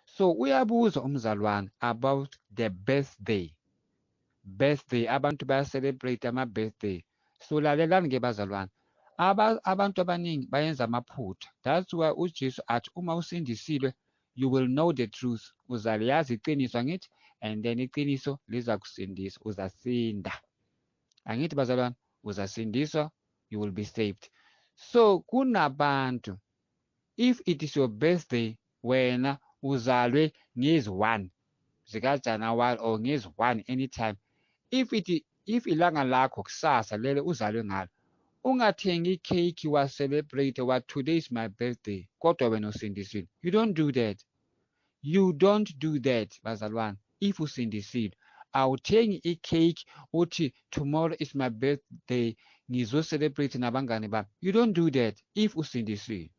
So uyabuza umzalwane about the birthday. Birthday abantu baya celebrate ama birthday. So lalelani ke bazalwane. Aba, abantu abaningi bayenza amaphutha that's why ujesu athi uma usindisilwe you will know the truth uzaliyazi iqiniso angithi and then iqiniso liza kusindisa uzasinda angithi bazalwane uzasindiswa you will be saved so kunabantu if it is your birthday wena uzalwe ngezi 1 zikaJanuwari or ngezi 1 anytime if it if ilanga lakho kusasa lele uzalwe ngalo ungathengi ikhekhi wa celebrate wa today is my birthday kodwa wena usindisiwe you don't do that you don't do that bazalwane if usindisiwe awuthengi i-cake uthi tomorrow is my birthday ngizocelebrate nabangane bami you don't do that if usindisiwe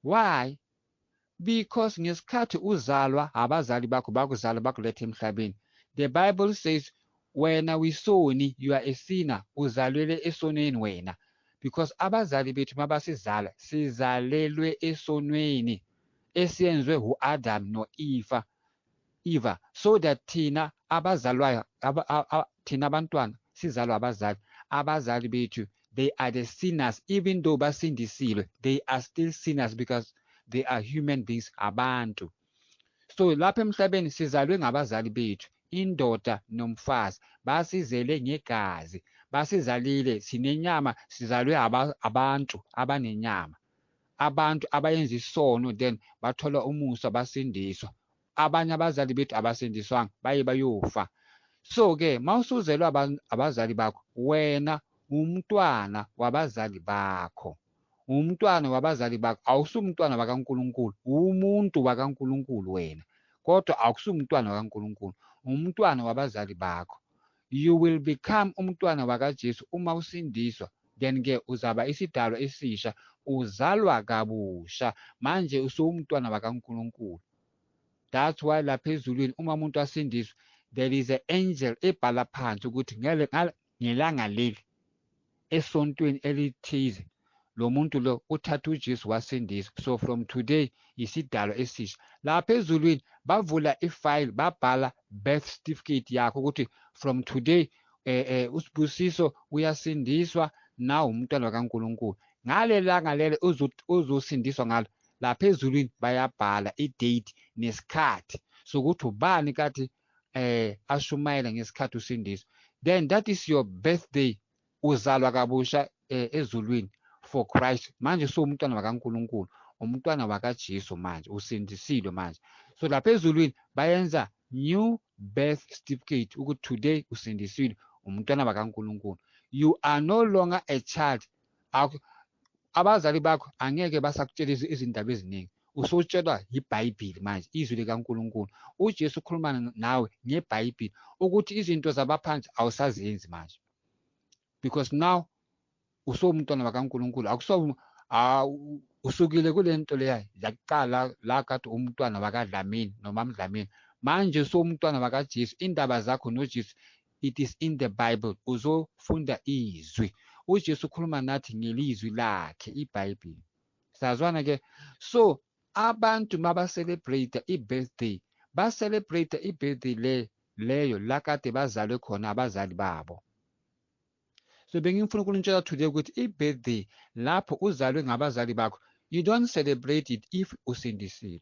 why because ngesikhathi uzalwa abazali bakho bakuzala bakuletha emhlabeni the bible says wena wisoni you are a sinner uzalwele esonweni wena because abazali bethu mabasizala sizalelwe esonweni esiyenzwe hu-Adam no-Eva, Eva, so that thina abazalwayo, aba, a, a, thina abantwana sizalwa abazali, abazali bethu they are the sinners even though basindisilwe they are still sinners because they are human beings abantu so lapha emhlabeni sizalwe ngabazali bethu indoda nomfazi basizele ngegazi basizalile sinenyama sizalwe abantu abanenyama Abantu abayenza isono then bathola umusa basindiswa. Abanye abazali bethu abasindiswanga baye bayofa. So ke mawusuzelwa abazali bakho wena umntwana wabazali bakho. Umntwana wabazali bakho awusumntwana wakaNkulunkulu, umuntu wakaNkulunkulu wena. Kodwa awukusumntwana wakaNkulunkulu, umntwana wabazali bakho. You will become umntwana wakaJesu uma usindiswa, then-ke uzaba isidalwa esisha, uzalwa kabusha, manje usuwumntwana wakaNkulunkulu. That's why lapha ezulwini uma umuntu asindiswa, there is an angel ebhala phansi ukuthi ngelanga leli esontweni elithize lo muntu lo uthatha uJesu wasindisa so from today yisidalo esisha lapha ezulwini bavula ifile babhala birth certificate yakho ukuthi from today eh, eh usibusiso uyasindiswa nawu umntwana kaNkuluNkulu ngalelanga lelo uzosindiswa ngalo lapha ezulwini bayabhala idate nesikhathi sokuthi ubani kathi eh ashumayele ngesikhathi usindiswa then that is your birthday uzalwa kabusha eh, ezulwini for Christ manje usuwumntwana wakaNkuluNkulu umntwana wakaJesu manje usindisilwe manje so lapha ezulwini bayenza new birth certificate ukuthi today usindisiwe umntwana wakaNkuluNkulu you are no longer a child abazali bakho angeke basakutshela izindaba eziningi usutshelwa yibhayibhili manje izwi likankulunkulu ujesu ukhuluma nawe ngebhayibhili ukuthi izinto zabaphansi awusazenzi manje because now usowumntwana wakankulunkulu akuso usukile kule nto leya yakuqala la kade umntwana wakadlamini nomamdlamini manje usowumntwana wakajesu indaba zakho nojesu it is in the bible uzofunda izwi ujesu ukhuluma nathi ngelizwi lakhe ibhayibhile sazwana ke so abantu mabacelebrate i-birthday bacelebrate i-birthday le leyo la kade bazalwe khona abazali babo so bengifuna ukunitshela today ukuthi i-birthday lapho uzalwe ngabazali bakho you don't celebrate it if usindisiwe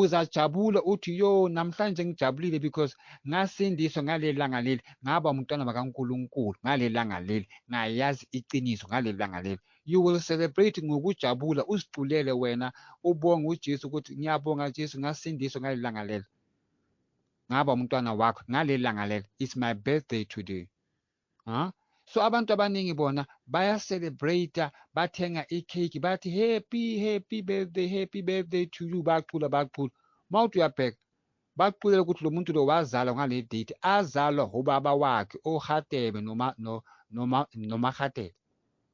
uzajabula uthi yo namhlanje ngijabulile because ngasindiswa ngaleli langa leli ngaba umntwana bakaNkulunkulu ngaleli langa leli ngayazi iqiniso ngaleli langa leli you will celebrate ngokujabula uziculele wena ubonge uJesu ukuthi ngiyabonga Jesu ngasindiswa ngaleli langa leli ngaba umntwana wakho ngaleli langa leli it's my birthday today ha so abantu abaningi bona baya celebrate bathenga icake bathi happy happy birthday happy birthday to you bacula bacula mawuthi uyabheka bakuxulela ukuthi lo muntu lo wazalwa ngale date azalwa ubaba wakhe ohatebe noma noma nomahatebe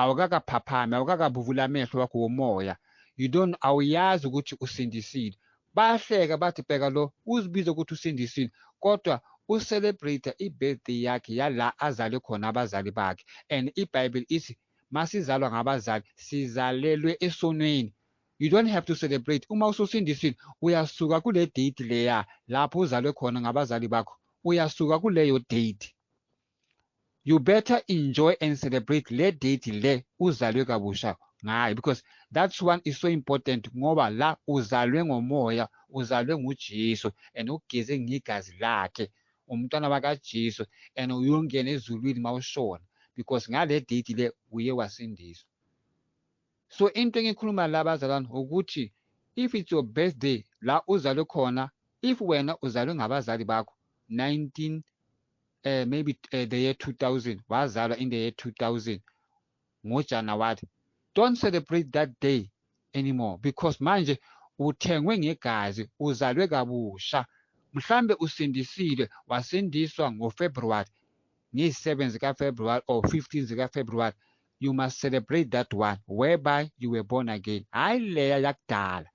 awukakaphaphami awukakabuvuli amehlo wakho womoya you don't awuyazi ukuthi usindisile bayahleka bathi bheka lo uzibiza ukuthi usindisile kodwa ucelebrate i-birthday yakhe yala azalwe khona abazali bakhe and ibhayibheli ithi masizalwa ngabazali sizalelwe esonweni you don't have to celebrate uma ususindisile uyasuka kule date leya lapho uzalwe khona ngabazali bakho uyasuka kuleyo date you better enjoy and celebrate le date le uzalwe kabusha ngayo because that's one is so important ngoba la uzalwe ngomoya uzalwe nguJesu and ugeze ngegazi lakhe umntwana wakaJesu and uyongena ezulwini mawushona because ngale date le uye wasindiswa so into engikhuluma la bazalwane ukuthi if it's your birthday la uzalwe khona if wena uzalwe ngabazali bakho 19 uh, eh, maybe uh, the year 2000 wazalwa in the year 2000 ngojanuwari don't celebrate that day anymore because manje uthengwe ngegazi uzalwe kabusha mhlambe usindisile wasindiswa ngofebruwari ngeyi-7 zikafebruwari or 15 zikafebruwari you must celebrate that one whereby you were born again hhayi leya yakudala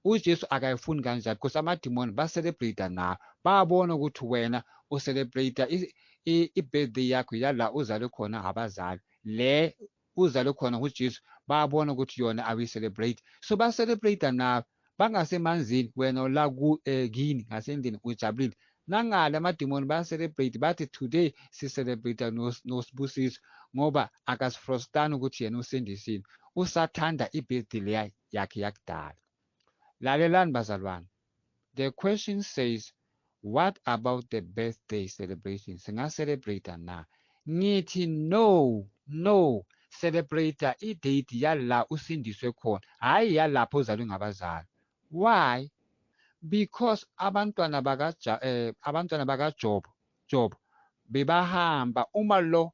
ujesu akayifuni kanjani because amadimoni bacelebrate nawo babona ukuthi wena ucelebrate i-birthday yakho yala uzalwe khona abazali le uzalwe khona ngujesu babona ukuthi yona awuyicelebrate so bacelebrate nawo bangasemanzini wena ula ku eh, kini ngasendlini ujabulile nangale amadimoni bayacelebrate bathi today sicelebrate nosibusiso ngoba akasifrostani ukuthi yena usindisile usathanda ibirthday leya yakhe yakudala lalelani bazalwane the question says What about the birthday celebration? Singa celebrater na? Ngithi no, no. Celebrator i date yala usindiswe khona, hhayi yalapho uzalwe ngabazali. Why? Because abantwana baka eh, abantwana bakaJobo job bebahamba uma lo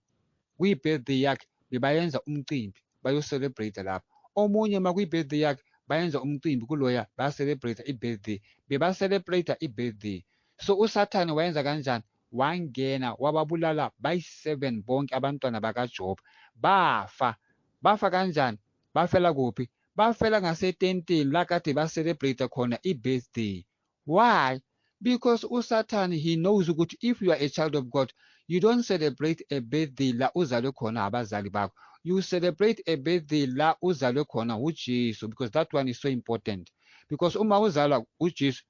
kwi-birthday yakhe bebayenza umcimbi bayo-celebrate lapho omunye uma kwi-birthday yakhe bayenza umcimbi kuloya ba-celebrate i-birthday beba-celebrate i-birthday so usathane wayenza kanjani wangena wababulala bayi-seven bonke abantwana bakajob bafa bafa kanjani bafela kuphi bafela ngasetentini la kade ba-celebrate khona i-birthday Why? Because uSathane he knows ukuthi if you are a child of God, you don't celebrate a birthday la uzalwe khona abazali bakho. You celebrate a birthday la uzalwe khona uJesu because that one is so important. Because uma uzalwa uJesu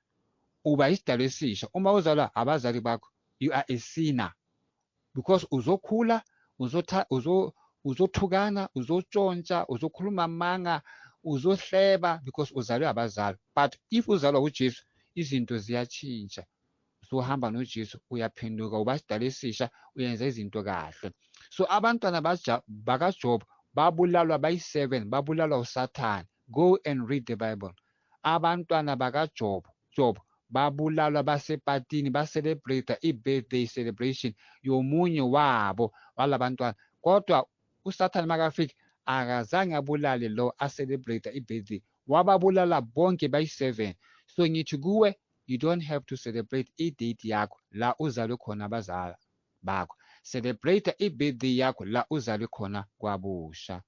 uba isidalwa esisha. Uma uzalwa abazali bakho, you are a sinner. because uzokhula uzotha uzo uzothukana uzotshontsha uzokhuluma amanga uzohleba because uzalwe abazali but if uzalwa uJesu izinto ziyatshintsha usuhamba noJesu uyaphenduka uba sidala esisha uyenza izinto kahle so abantwana bakaJob babulalwa bayi-7 babulalwa usathane Go and read the Bible. Abantwana bakaJob, Job, babulalwa basepatini bacelebrate i-birthday celebration yomunye wabo walabantwana kodwa usathane makafika akazange abulale lo acelebrate i-birthday wababulala bonke bayi-seven so ngithi kuwe you don't have to celebrate i-date yakho la uzalwe khona abazala bakho celebrate i-birthday yakho la uzalwe khona kwabusha